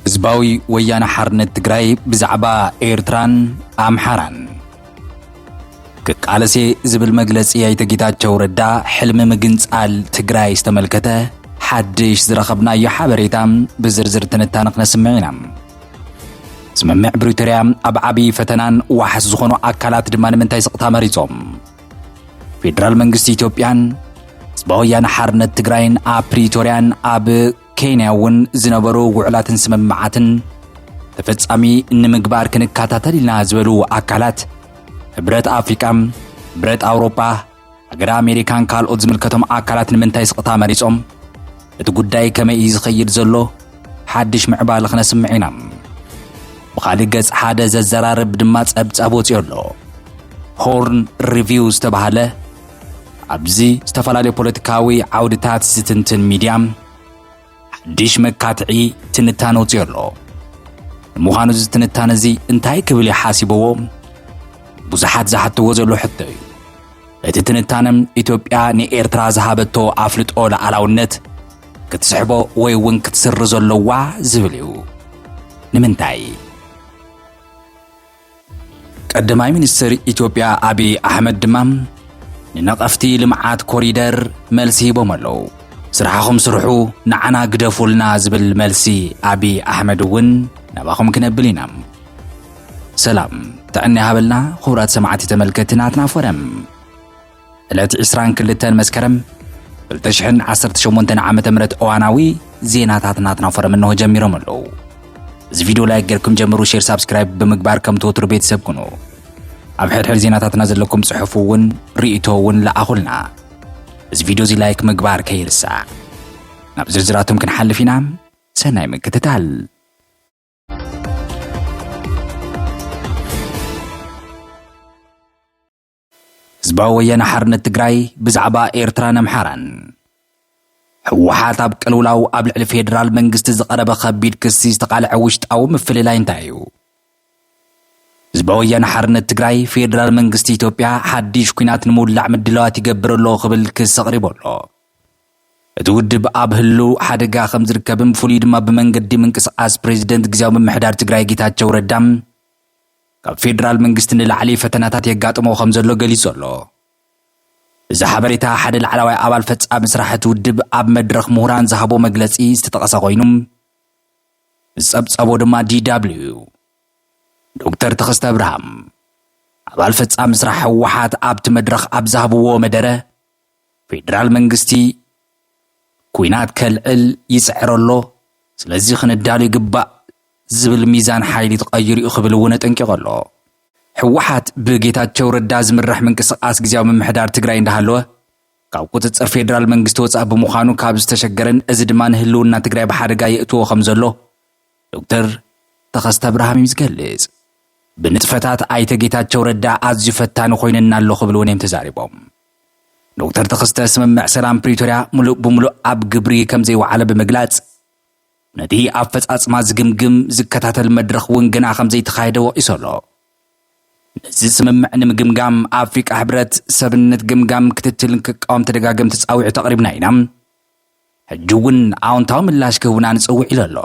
ህዝባዊ ወያነ ሓርነት ትግራይ ብዛዕባ ኤርትራን ኣምሓራን ክቃለሴ ዝብል መግለጺ ኣይተ ጌታቸው ረዳ ሕልሚ ምግንጻል ትግራይ ዝተመልከተ ሓድሽ ዝረኸብናዮ ሓበሬታ ብዝርዝር ትንታነ ክነስምዕ ኢና። ስምምዕ ብሪቶርያ ኣብ ዓብዪ ፈተናን ዋሕስ ዝኾኑ ኣካላት ድማ ንምንታይ ስቕታ መሪጾም? ፌደራል መንግስቲ ኢትዮጵያን ህዝባዊ ወያነ ሓርነት ትግራይን ኣብ ፕሪቶርያን ኣብ ኬንያ እውን ዝነበሩ ውዕላትን ስምምዓትን ተፈጻሚ ንምግባር ክንከታተል ኢና ዝበሉ ኣካላት ሕብረት ኣፍሪቃ፣ ሕብረት ኣውሮፓ፣ ሃገረ ኣሜሪካን ካልኦት ዝምልከቶም ኣካላት ንምንታይ ስቕታ መሪጾም? እቲ ጉዳይ ከመይ እዩ ዝኸይድ ዘሎ? ሓድሽ ምዕባለ ክነስምዕ ኢና። ብኻልእ ገጽ ሓደ ዘዘራርብ ድማ ጸብጻብ ወጺኦ ኣሎ። ሆርን ሪቪው ዝተባህለ ኣብዚ ዝተፈላለዩ ፖለቲካዊ ዓውድታት ዝትንትን ሚድያ ሓድሽ መካትዒ ትንታነ ወፂኡ ኣሎ። ንምዃኑ እዚ ትንታነ እዚ እንታይ ክብል እዩ ሓሲበዎ? ብዙሓት ዝሓትዎ ዘሎ ሕቶ እዩ። እቲ ትንታነ ኢትዮጵያ ንኤርትራ ዝሃበቶ ኣፍልጦ ሉዓላውነት ክትስሕቦ ወይ እውን ክትስርዞ ኣለዋ ዝብል እዩ። ንምንታይ? ቀዳማይ ሚኒስትር ኢትዮጵያ ኣብዪ ኣሕመድ ድማ ንነቐፍቲ ልምዓት ኮሪደር መልሲ ሂቦም ኣለዉ። ስራሕኹም ስርሑ ንዓና ግደፉልና ዝብል መልሲ ኣብዪ ኣሕመድ እውን ናባኹም ክነብል ኢና። ሰላም ጥዕና ይሃበልና ክቡራት ሰማዕቲ ተመልከቲ ናትና ፎረም ዕለት ዕስራን ክልተን መስከረም ክልተ ሽሕን ዓሰርተ ሸሞንተን ዓመተ ምህረት እዋናዊ ዜናታት ናትና ፎረም እንሆ ጀሚሮም ኣለዉ። እዚ ቪድዮ ላይክ ጌርኩም ጀምሩ፣ ሼር ሳብስክራይብ ብምግባር ከም ትወትሩ ቤተሰብ ኩኑ። ኣብ ሕድሕድ ዜናታትና ዘለኩም ጽሑፍ እውን ርእይቶ እውን ለኣኹልና። እዚ ቪድዮ እዚ ላይክ ምግባር ከይርሳዕ። ናብ ዝርዝራቶም ክንሓልፍ ኢና። ሰናይ ምክትታል። ህዝባዊ ወያነ ሓርነት ትግራይ ብዛዕባ ኤርትራን ኣምሓራን ህወሓት ኣብ ቅልውላው ኣብ ልዕሊ ፌዴራል መንግስቲ ዝቐረበ ከቢድ ክሲ ዝተቓልዐ ውሽጣዊ ምፍልላይ እንታይ እዩ? ህዝባዊ ወያነ ሓርነት ትግራይ ፌዴራል መንግስቲ ኢትዮጵያ ሓድሽ ኩናት ንምውላዕ ምድላዋት ይገብር ኣሎ ክብል ክሲ ኣቕሪቡ ኣሎ። እቲ ውድብ ኣብ ህልው ሓደጋ ከም ዝርከብን ብፍሉይ ድማ ብመንገዲ ምንቅስቓስ ፕሬዚደንት ግዜያዊ ምምሕዳር ትግራይ ጌታቸው ረዳ ካብ ፌደራል መንግስቲ ንላዕሊ ፈተናታት የጋጥሞ ከምዘሎ ገሊጹ ኣሎ። እዚ ሓበሬታ ሓደ ላዕላዋይ ኣባል ፈጻሚ ስራሕ እቲ ውድብ ኣብ መድረኽ ምሁራን ዝሃቦ መግለጺ ዝተጠቐሰ ኮይኑ ዝጸብጸቦ ድማ ዲዳብሊው ዶክተር ተኸስተ ኣብርሃም ኣባል ፈጻሚ ስራሕ ህወሓት ኣብቲ መድረኽ ኣብ ዝሃብዎ መደረ ፌደራል መንግስቲ ኲናት ከልዕል ይጽዕር ኣሎ፣ ስለዚ ክንዳሎ ይግባእ ዝብል ሚዛን ሓይሊ ተቐይሩ'ዩ ክብል እውን ኣጠንቂቑ ኣሎ። ህወሓት ብጌታቸው ረዳ ዝምራሕ ምንቅስቓስ ግዝያዊ ምምሕዳር ትግራይ እንዳሃለወ ካብ ቁፅፅር ፌደራል መንግስቲ ወፃእ ብምዃኑ ካብ ዝተሸገረን እዚ ድማ ንህልውና ትግራይ ብሓደጋ የእትዎ ከም ዘሎ ዶክተር ተኸስተ ኣብርሃም እዩ ዝገልጽ። ብንጥፈታት ኣይተ ጌታቸው ረዳ ኣዝዩ ፈታኒ ኮይነና ኣሎ ክብሉ እውን እዮም ተዛሪቦም። ዶክተር ተኸስተ ስምምዕ ሰላም ፕሪቶርያ ሙሉእ ብሙሉእ ኣብ ግብሪ ከምዘይወዓለ ብምግላፅ ነቲ ኣፈፃፅማ ዝግምግም ዝከታተል መድረኽ እውን ገና ከምዘይተኻየደ ወቒሱ ኣሎ። ነዚ ስምምዕ ንምግምጋም ኣፍሪቃ ሕብረት ሰብነት ገምጋም ክትትልን ክቃወም ተደጋገምቲ ፃዊዕት ኣቕሪብና ኢና። ሕጂ እውን ኣዎንታዊ ምላሽ ክህቡና ንፅውዕ ኢሉ ኣሎ።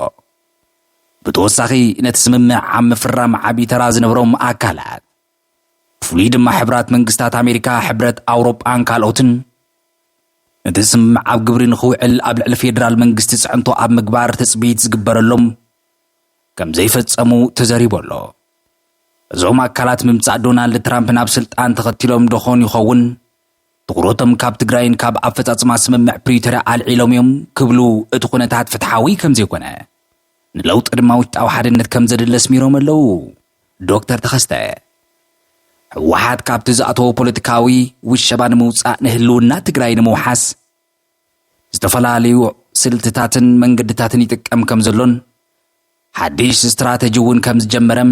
ብተወሳኺ ነቲ ስምምዕ ኣብ ምፍራም ዓብዪ ተራ ዝነበሮም ኣካላት ብፍሉይ ድማ ሕብራት መንግስታት ኣሜሪካ፣ ሕብረት ኣውሮጳን ካልኦትን ነቲ ስምምዕ ኣብ ግብሪ ንኽውዕል ኣብ ልዕሊ ፌዴራል መንግስቲ ፅዕንቶ ኣብ ምግባር ትፅቢት ዝግበረሎም ከም ዘይፈፀሙ ተዘሪቡ ኣሎ። እዞም ኣካላት ምምፃእ ዶናልድ ትራምፕ ናብ ስልጣን ተኸቲሎም ደኾን ይኸውን ትኹረቶም ካብ ትግራይን ካብ ኣፈፃፅማ ስምምዕ ፕሪቶርያ ኣልዒሎም እዮም ክብሉ እቲ ኩነታት ፍትሓዊ ከም ዘይኮነ ንለውጢ ድማ ውሽጣዊ ሓድነት ከምዘድሊ ኣስሚሮም ኣለው ዶክተር ተኸስተ። ህወሓት ካብቲ ዝኣተዎ ፖለቲካዊ ውሸባ ንምውፃእ ንህልውና ትግራይ ንምውሓስ ዝተፈላለዩ ስልትታትን መንገድታትን ይጥቀም ከምዘሎን ሓድሽ ስትራተጂ እውን ከምዝጀመረም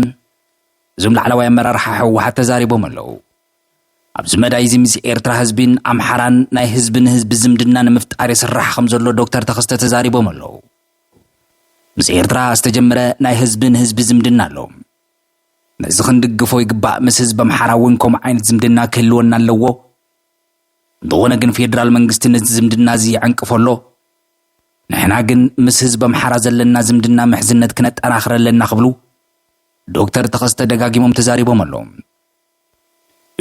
እዞም ላዕለዋይ ኣመራርሓ ህወሓት ተዛሪቦም ኣለው። ኣብዚ መዳይ እዚ ምስ ኤርትራ ህዝቢን ኣምሓራን ናይ ህዝቢ ንህዝቢ ዝምድና ንምፍጣር ይስራሕ ከምዘሎ ዶክተር ተኸስተ ተዛሪቦም ኣለው። ምስ ኤርትራ ዝተጀመረ ናይ ህዝቢ ንህዝቢ ዝምድና ኣሎ። ነዚ ክንድግፎ ይግባእ፣ ምስ ህዝቢ ኣምሓራ እውን ከምኡ ዓይነት ዝምድና ክህልወና ኣለዎ። እንተኾነ ግን ፌደራል መንግስቲ ነዚ ዝምድና እዚ ይዕንቅፎ ኣሎ። ንሕና ግን ምስ ህዝቢ ኣምሓራ ዘለና ዝምድና ምሕዝነት ክነጠናኽር ኣለና ክብሉ ዶክተር ተኸስተ ደጋጊሞም ተዛሪቦም ኣለው።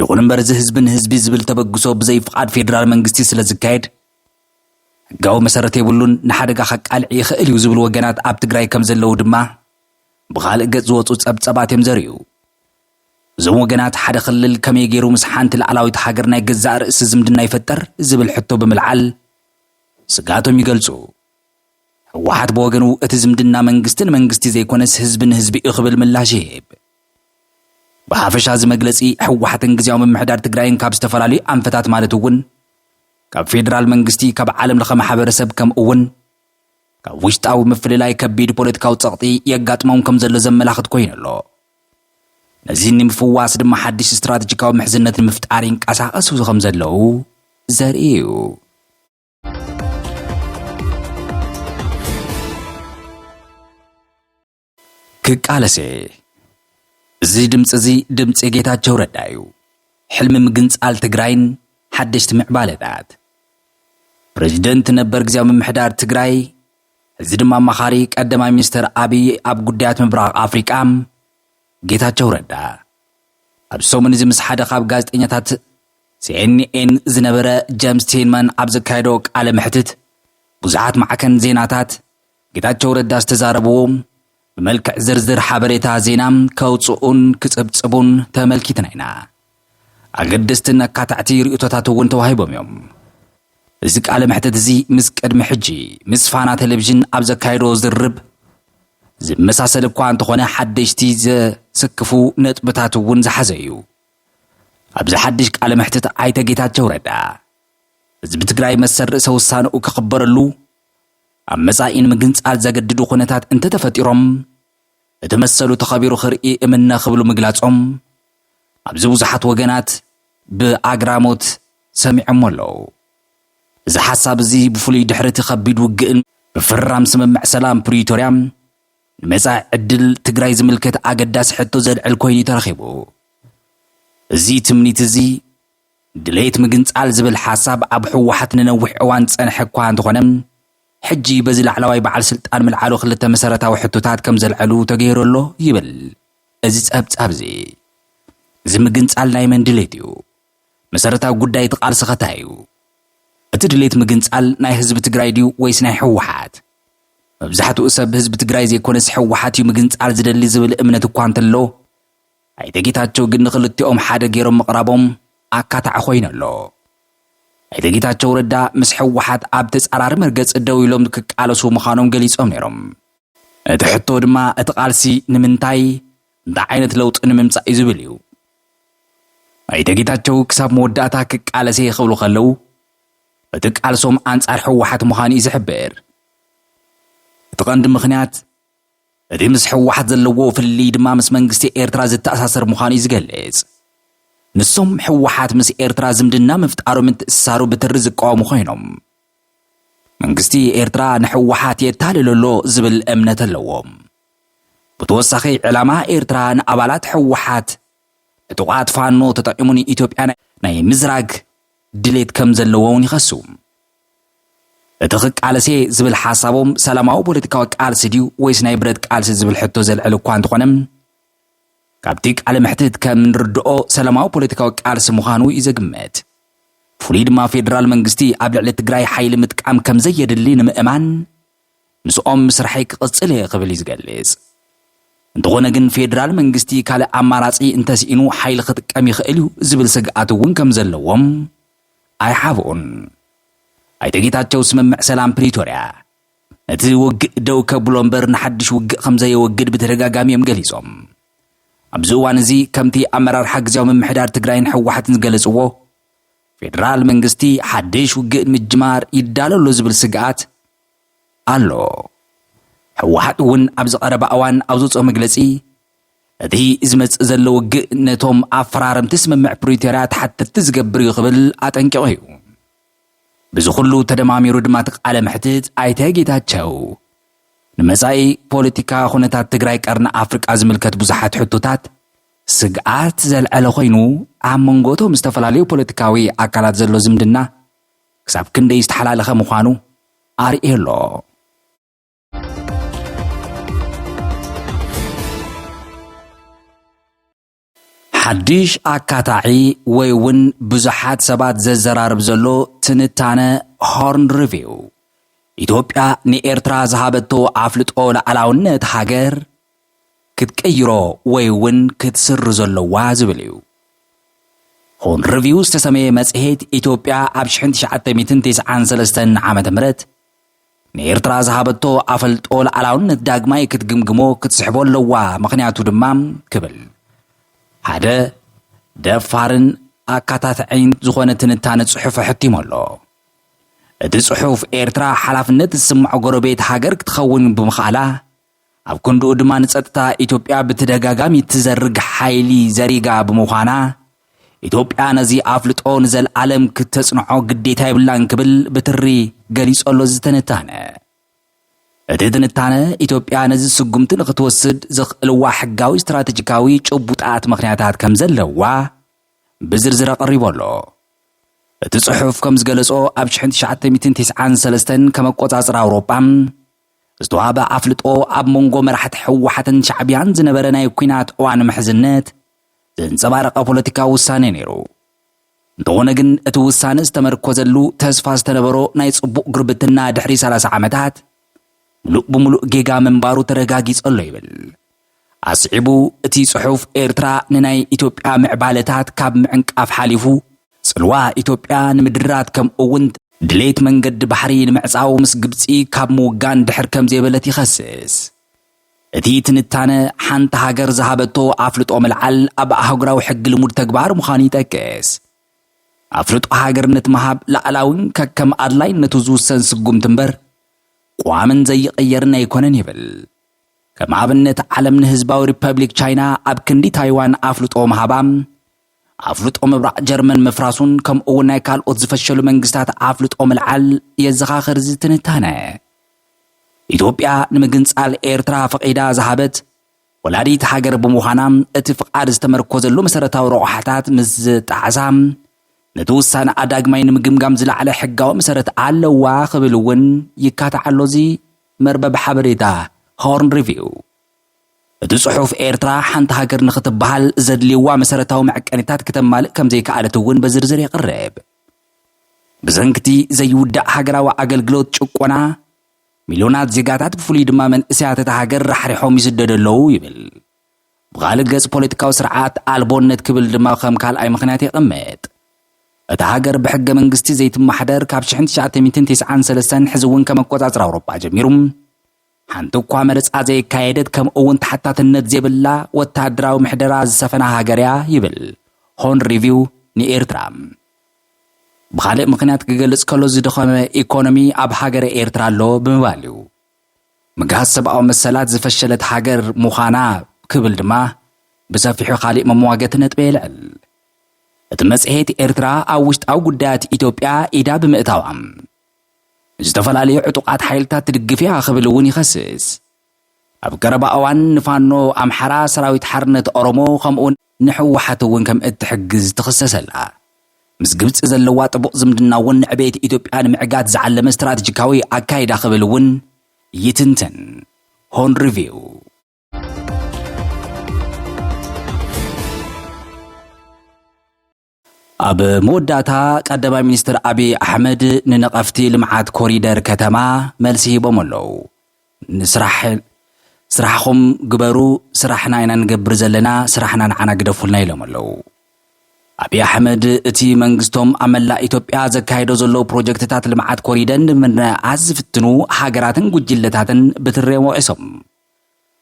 ይኹን እምበር እዚ ህዝቢ ንህዝቢ ዝብል ተበግሶ ብዘይ ፍቓድ ፌዴራል መንግስቲ ስለ ዝካየድ ሕጋዊ መሰረት የብሉን፣ ንሓደጋ ከቃልዕ ይኽእል እዩ ዝብሉ ወገናት ኣብ ትግራይ ከም ዘለዉ ድማ ብኻልእ ገፅ ዝወፁ ፀብፀባት እዮም ዘርእዩ። እዞም ወገናት ሓደ ክልል ከመይ ገይሩ ምስ ሓንቲ ላዕላዊት ሃገር ናይ ገዛእ ርእሲ ዝምድና ይፈጠር ዝብል ሕቶ ብምልዓል ስግኣቶም ይገልፁ። ህወሓት ብወገኑ እቲ ዝምድና መንግስቲ ንመንግስቲ ዘይኮነስ ህዝቢ ንህዝቢ እዩ ክብል ምላሽ ይህብ። ብሓፈሻ እዚ መግለፂ ህወሓትን ግዝያዊ ምምሕዳር ትግራይን ካብ ዝተፈላለዩ ኣንፈታት ማለት እውን ካብ ፌዴራል መንግስቲ፣ ካብ ዓለም ለኸ ማሕበረሰብ ከምኡ እውን ካብ ውሽጣዊ ምፍልላይ ከቢድ ፖለቲካዊ ፀቕጢ የጋጥሞም ከም ዘሎ ዘመላኽት ኮይኑ ኣሎ። ነዚ ንምፍዋስ ድማ ሓድሽ ስትራቴጂካዊ ምሕዝነት ንምፍጣር ይንቀሳቐሱ ከም ዘለዉ ዘርኢ እዩ። ክቃለስ እየ እዚ ድምፂ እዚ ድምፂ ጌታቸው ረዳ እዩ ሕልሚ ምግንፃል ትግራይን ሓደሽቲ ምዕባለታት ፕሬዚደንት ነበር ግዜያዊ ምምሕዳር ትግራይ እዚ ድማ ኣማኻሪ ቀዳማይ ሚኒስትር ኣብዪ ኣብ ጉዳያት ምብራቕ ኣፍሪቃ ጌታቸው ረዳ ኣብዚ ሰሙን እዚ ምስ ሓደ ካብ ጋዜጠኛታት ሲኤንኤን ዝነበረ ጀምስ ቲልማን ኣብ ዘካየዶ ቃለ መሕትት ብዙሓት ማዕከን ዜናታት ጌታቸው ረዳ ዝተዛረብዎ ብመልክዕ ዝርዝር ሓበሬታ ዜና ከውፅኡን ክፅብፅቡን ተመልኪትና ኢና። ኣገደስትን ኣካታዕቲ ርእቶታት እውን ተዋሂቦም እዮም። እዚ ቃለ መሕትት እዚ ምስ ቅድሚ ሕጂ ምስ ፋና ቴሌቪዥን ኣብ ዘካየዶ ዝርርብ ዝመሳሰል እኳ እንተኾነ ሓደሽቲ ዘስክፉ ነጥብታት እውን ዝሓዘ እዩ። ኣብዚ ሓድሽ ቃለ መሕትት ኣይተ ጌታቸው ረዳ ህዝቢ ትግራይ መሰል ርእሰ ውሳነኡ ክኽበረሉ ኣብ መጻኢ ንምግንጻል ዘገድዱ ኩነታት እንተተፈጢሮም እቲ መሰሉ ተኸቢሩ ክርኢ እምነ ክብሉ ምግላጾም ኣብዚ ብዙሓት ወገናት ብኣግራሞት ሰሚዖሞ ኣለዉ። እዚ ሓሳብ እዚ ብፍሉይ ድሕሪ እቲ ከቢድ ውግእን ምፍርራም ስምምዕ ሰላም ፕሪቶርያ ንመጻኢ ዕድል ትግራይ ዝምልከት ኣገዳሲ ሕቶ ዘልዕል ኮይኑ እዩ ተረኺቡ። እዚ ትምኒት እዚ ድሌት ምግንጻል ዝብል ሓሳብ ኣብ ህወሓት ንነዊሕ እዋን ዝጸንሐ እኳ እንተኾነ፣ ሕጂ በዚ ላዕላዋይ በዓል ስልጣን ምልዓሉ ክልተ መሰረታዊ ሕቶታት ከም ዘልዐሉ ተገይሩ ኣሎ ይብል እዚ ጸብጻብ እዚ። እዚ ምግንጻል ናይ መን ድሌት እዩ? መሰረታዊ ጉዳይ እቲ ቃልስኸ ታይ እዩ? እቲ ድሌት ምግንፃል ናይ ህዝቢ ትግራይ ድዩ ወይስ ናይ ህወሓት? መብዛሕትኡ ሰብ ህዝቢ ትግራይ ዘይኮነስ ህወሓት እዩ ምግንፃል ዝደሊ ዝብል እምነት እኳ እንተሎ ኣይተ ጌታቸው ግን ንኽልቲኦም ሓደ ገይሮም ምቕራቦም ኣካታዒ ኮይኑ ኣሎ። ኣይተ ጌታቸው ረዳ ምስ ህወሓት ኣብ ተፃራሪ መርገፂ ደው ኢሎም ክቃለሱ ምዃኖም ገሊፆም ነይሮም። እቲ ሕቶ ድማ እቲ ቃልሲ ንምንታይ፣ እንታይ ዓይነት ለውጢ ንምምፃእ እዩ ዝብል እዩ። ኣይተ ጌታቸው ክሳብ መወዳእታ ክቃለስ እየ ክብሉ ከለው እቲ ቃልሶም ኣንፃር ህወሓት ምዃኑ እዩ ዝሕብር። እቲ ቀንዲ ምኽንያት እቲ ምስ ህወሓት ዘለዎ ፍልልይ ድማ ምስ መንግስቲ ኤርትራ ዝተኣሳሰር ምዃኑ እዩ ዝገልፅ። ንሶም ሕወሓት ምስ ኤርትራ ዝምድና ምፍጣሩ ምትእስሳሩ ብትሪ ዝቃወሙ ኮይኖም መንግስቲ ኤርትራ ንሕወሓት የታልሎ ኣሎ ዝብል እምነት ኣለዎም። ብተወሳኺ ዕላማ ኤርትራ ንኣባላት ህወሓት ዕጡቓት ፋኖ ተጠቒሙ ንኢትዮጵያ ናይ ምዝራግ ድሌት ከም ዘለዎ'ውን ይኸሱ። እቲ ክቃለስ'የ ዝብል ሓሳቦም ሰላማዊ ፖለቲካዊ ቃልሲ ድዩ ወይስ ናይ ብረት ቃልሲ ዝብል ሕቶ ዘልዕል እኳ እንተኾነ ካብቲ ቃለ መሕትት ከም ንርድኦ ሰላማዊ ፖለቲካዊ ቃልሲ ምዃኑ እዩ ዘግምት። ፍሉይ ድማ ፌደራል መንግስቲ ኣብ ልዕሊ ትግራይ ሓይሊ ምጥቃም ከም ዘየድሊ ንምእማን ምስኦም ምስርሐይ ክቕጽል እየ ክብል እዩ ዝገልጽ። እንተኾነ ግን ፌደራል መንግስቲ ካልእ ኣማራጺ እንተስኢኑ ሓይሊ ክጥቀም ይኽእል እዩ ዝብል ስግኣት እውን ከምዘለዎም ኣይሓብኡን። ኣይተ ጌታቸው ስምምዕ ሰላም ፕሪቶርያ ነቲ ውግእ ደው ከብሎ እምበር ንሓድሽ ውግእ ከምዘየወግድ ብተደጋጋሚ እዮም ገሊጾም። ኣብዚ እዋን እዚ ከምቲ ኣመራርሓ ግዝያዊ ምምሕዳር ትግራይን ህወሓትን ዝገለጽዎ ፌደራል መንግስቲ ሓድሽ ውግእ ንምጅማር ይዳሎ ኣሎ ዝብል ስግኣት ኣሎ። ህወሓት እውን ኣብዚ ቀረባ እዋን ኣብ ዘውፅኦ መግለፂ እቲ ዝመፅእ ዘሎ ውግእ ነቶም ኣፈራረምቲ ስምምዕ ፕሪቶርያ ተሓተትቲ ዝገብር እዩ ክብል ኣጠንቂቑ እዩ። ብዚ ኩሉ ተደማሚሩ ድማ እቲ ቃለ መሕትት ኣይተ ጌታቸው ንመፃኢ ፖለቲካ ኩነታት ትግራይ ቀርኒ ኣፍሪቃ ዝምልከት ብዙሓት ሕቶታት ስግኣት ዘልዐለ ኮይኑ፣ ኣብ መንጎ'ቶም ዝተፈላለዩ ፖለቲካዊ ኣካላት ዘሎ ዝምድና ክሳብ ክንደይ ዝተሓላለኸ ምዃኑ ኣርእዮ ኣሎ። ሓድሽ ኣካታዒ ወይ እውን ብዙሓት ሰባት ዘዘራርብ ዘሎ ትንታነ ሆርን ሪቪው፣ ኢትዮጵያ ንኤርትራ ዝሃበቶ ኣፍልጦ ልኣላውነት ሃገር፣ ክትቅይሮ ወይ እውን ክትስርዞ ኣለዋ ዝብል እዩ። ኹን ርቪው ዝተሰመየ መጽሔት፣ ኢትዮጵያ ኣብ ሽሕን ትሽዓተ ሚእትን ቴስዓን ሰለስተን ዓመተ ምህረት ንኤርትራ ዝሃበቶ ኣፈልጦ ልኣላውነት ዳግማይ ክትግምግሞ ክትስሕቦ ኣለዋ ምኽንያቱ ድማ ክብል ሓደ ደፋርን ኣካታትዕይን ዝኾነ ትንታነ ጽሑፍ ኣሕቲሙ ኣሎ። እቲ ጽሑፍ ኤርትራ ሓላፍነት ዝስምዖ ጎረቤት ሃገር ክትኸውን ብምኽኣላ ኣብ ክንድኡ ድማ ንጸጥታ ኢትዮጵያ ብተደጋጋሚ እትዘርግ ሓይሊ ዘሪጋ ብምዃና፣ ኢትዮጵያ ነዚ ኣፍልጦ ንዘልኣለም ክተጽንዖ ግዴታ የብላን ክብል ብትሪ ገሊጾ ኣሎ እዚ ትንታነ። እቲ ትንታነ፣ ኢትዮጵያ ነዚ ስጉምቲ ንኽትወስድ ዘኽእልዋ ሕጋዊ ስትራተጂካዊ ጭቡጣት ምኽንያታት ከም ዘለዋ ብዝርዝር ኣቐሪቡ ኣሎ። እቲ ጽሑፍ ከም ዝገለጾ፣ ኣብ ሽሕን ትሽዓተ ሚእትን ቴስዓን ሰለስተን ከም ኣቆጻጽራ ኣውሮጳ፣ ዝተዋህበ ኣፍልጦ ኣብ መንጎ መራሕቲ ህወሓትን ሻዕቢያን ዝነበረ ናይ ኲናት እዋን ምሕዝነት ዘንጸባረቐ ፖለቲካዊ ውሳኔ ነይሩ። እንተኾነ ግን እቲ ውሳነ ዝተመርኮዘሉ ተስፋ ዝተነበሮ ናይ ጽቡቕ ጉርብትና ድሕሪ 30 ዓመታት ምሉእ ብምሉእ ጌጋ ምንባሩ ተረጋጊጸሎ ይብል። ኣስዒቡ እቲ ጽሑፍ ኤርትራ ንናይ ኢትዮጵያ ምዕባለታት ካብ ምዕንቃፍ ሓሊፉ ጽልዋ ኢትዮጵያ ንምድራት ከምኡ'ውን ድሌት መንገዲ ባሕሪ ንምዕጻው ምስ ግብጺ ካብ ምውጋን ድሕር ከምዘይበለት ይኸስስ። እቲ ትንታነ ሓንቲ ሃገር ዝሃበቶ ኣፍልጦ ምልዓል ኣብ ኣህጉራዊ ሕጊ ልሙድ ተግባር ምዃኑ ይጠቅስ። ኣፍልጦ ሃገርነት ምሃብ ላእላዊን ከከም ኣድላይነቱ ዝውሰን ስጉምቲ እምበር ቋምን ዘይቕየርን ኣይኮነን ይብል። ከም ኣብነት ዓለም ንህዝባዊ ሪፐብሊክ ቻይና ኣብ ክንዲ ታይዋን ኣፍልጦ ምሃባ፣ ኣፍልጦ ምብራቕ ጀርመን ምፍራሱን ከምኡ'ውን ናይ ካልኦት ዝፈሸሉ መንግስታት ኣፍልጦ ምልዓል የዘኻኽር እዚ ትንታነ። ኢትዮጵያ ንምግንጻል ኤርትራ ፈቒዳ ዝሃበት ወላዲት ሃገር ብምዃና እቲ ፍቓድ ዝተመርኮዘሉ መሰረታዊ ረቑሓታት ምስ ዝጣዕሳ ነቲ ውሳነኣ ዳግማይ ንምግምጋም ዝለዓለ ሕጋዊ መሰረት ኣለዋ ክብል እውን ይካታዕ ኣሎ እዚ መርበብ ሓበሬታ ሆርን ሪቪው እቲ ጽሑፍ ኤርትራ ሓንቲ ሃገር ንኽትበሃል ዘድልይዋ መሰረታዊ መዕቀኒታት ክተማልእ ከም ዘይከኣለት እውን በዝርዝር የቕርብ። ብሰንክቲ ዘይውዳእ ሃገራዊ ኣገልግሎት ጭቆና ሚልዮናት ዜጋታት ብፍሉይ ድማ መንእሰያት እታ ሃገር ራሕሪሖም ይስደዱ ኣለዉ ይብል። ብኻልእ ገፅ ፖለቲካዊ ስርዓት ኣልቦነት ክብል ድማ ከም ካልኣይ ምኽንያት የቐምጥ። እታ ሃገር ብሕገ መንግስቲ ዘይትማሕደር ካብ ሽሕን ትሽዓተ ሚእትን ቴስዓን ሰለስተን ሕዚ እውን ከም ኣቆፃፅራ ኣውሮፓ ጀሚሩ ሓንቲ እኳ መረፃ ዘየካየደት ከምኡ እውን ተሓታትነት ዘይብላ ወታደራዊ ምሕደራ ዝሰፈና ሃገር እያ ይብል ሆርን ሪቪው ንኤርትራ ብኻልእ ምኽንያት ክገልፅ ከሎ ዝደኸመ ኢኮኖሚ ኣብ ሃገረ ኤርትራ ኣሎ ብምባል እዩ። ምግሃስ ሰብኣዊ መሰላት ዝፈሸለት ሃገር ምዃና ክብል ድማ ብሰፊሑ ካሊእ መመዋገቲ ነጥቢ የልዕል። እቲ መጽሔት ኤርትራ ኣብ ውሽጣዊ ጉዳያት ኢትዮጵያ ኢዳ ብምእታዋ ንዝተፈላለዩ ዕጡቓት ሓይልታት ትድግፍ እያ ክብል እውን ይኸስስ። ኣብ ቀረባ እዋን ንፋኖ ኣምሓራ፣ ሰራዊት ሓርነት ኦሮሞ ከምኡውን ንሕወሓት እውን ከም እትሕግዝ ትኽሰስ ኣላ። ምስ ግብጺ ዘለዋ ጥቡቕ ዝምድና እውን ንዕቤት ኢትዮጵያ ንምዕጋት ዝዓለመ ስትራተጂካዊ ኣካይዳ ክብል እውን ይትንትን ሆርን ሪቪው። ኣብ መወዳእታ ቀዳማይ ሚኒስትር ኣብዪ ኣሕመድ ንነቐፍቲ ልምዓት ኮሪደር ከተማ መልሲ ሂቦም ኣለው። ንስራሕ ስራሕኹም ግበሩ፣ ስራሕና ኢና ንገብር ዘለና፣ ስራሕና ንዓና ግደፉልና ኢሎም ኣለው። ኣብዪ ኣሕመድ እቲ መንግስቶም ኣብ መላእ ኢትዮጵያ ዘካይዶ ዘሎ ፕሮጀክትታት ልምዓት ኮሪደር ንምንኣስ ዝፍትኑ ሃገራትን ጉጅለታትን ብትሬ ወቒሶም።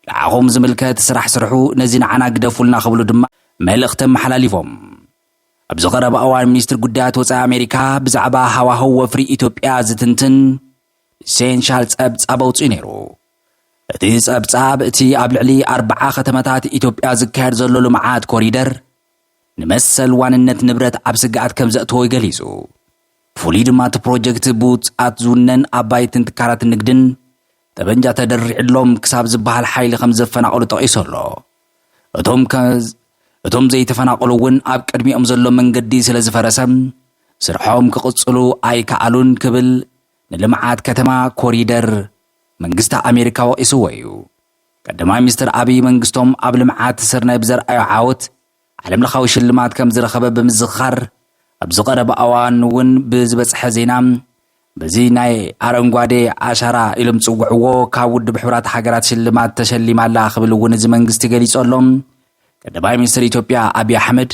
ንዓኹም ዝምልከት ስራሕ ስርሑ፣ ነዚ ንዓና ግደፉልና ክብሉ ድማ መልእኽቲ ኣመሓላሊፎም። ኣብዚ ቀረባ እዋን ሚኒስትሪ ጉዳያት ወፃኢ ኣሜሪካ ብዛዕባ ሃዋህው ወፍሪ ኢትዮጵያ ዝትንትን ኢሴንሻል ፀብፃብ ኣውፂኡ ነይሩ። እቲ ፀብፃብ እቲ ኣብ ልዕሊ ኣርብዓ ከተማታት ኢትዮጵያ ዝካየድ ዘሎ ልምዓት ኮሪደር ንመሰል ዋንነት ንብረት ኣብ ስግኣት ከም ዘእተዎ ገሊፁ። ብፍሉይ ድማ እቲ ፕሮጀክት ብውፁኣት ዝውነን ኣባይትን ትካላት ንግድን ጠበንጃ ተደሪዕሎም ክሳብ ዝበሃል ሓይሊ ከም ዘፈናቐሉ ጠቒሱ ኣሎ። እቶም እቶም ዘይተፈናቐሉ እውን ኣብ ቅድሚኦም ዘሎ መንገዲ ስለ ዝፈረሰ ስርሖም ክቕፅሉ ኣይከኣሉን ክብል ንልምዓት ከተማ ኮሪደር መንግስቲ ኣሜሪካ ወቒስዎ እዩ። ቀዳማይ ሚኒስትር ኣብይ መንግስቶም ኣብ ልምዓት ስርናይ ብዘርኣዮ ዓወት ዓለምለኻዊ ሽልማት ከም ዝረኸበ ብምዝኽኻር፣ ኣብዚ ቀረባ እዋን እውን ብዝበጽሐ ዜና፣ በዚ ናይ ኣረንጓዴ ኣሻራ ኢሎም ዝጽውዕዎ ካብ ውድብ ሕቡራት ሃገራት ሽልማት ተሸሊማ ኣላ ክብል እውን እዚ መንግስቲ ገሊጹ ኣሎ። ቀዳማይ ሚኒስትር ኢትዮጵያ ኣብዪ ኣሕመድ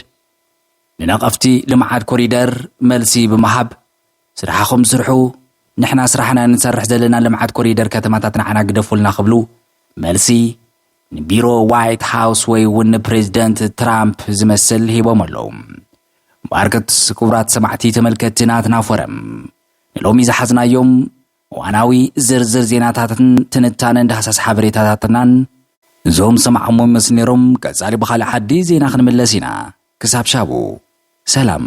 ንነቐፍቲ ልምዓት ኮሪደር መልሲ ብምሃብ ስራሕኹም ስርሑ ንሕና ስራሕና ንሰርሕ ዘለና ልምዓት ኮሪደር ከተማታት ንዓና ግደፉልና ክብሉ መልሲ ንቢሮ ዋይት ሃውስ ወይ እውን ንፕሬዚደንት ትራምፕ ዝመስል ሂቦም ኣለዉ። ባርክትስ ክቡራት ሰማዕቲ ተመልከትቲ ናትና ፎረም ንሎሚ ዝሓዝናዮም እዋናዊ ዝርዝር ዜናታትን ትንታነን ዳህሳስ ሓበሬታታትናን እዞም ሰማዕሞ ምስ ነይሮም ቀጻሊ ብኻልእ ሓዲ ዜና ክንምለስ ኢና ክሳብ ሻቡ ሰላም።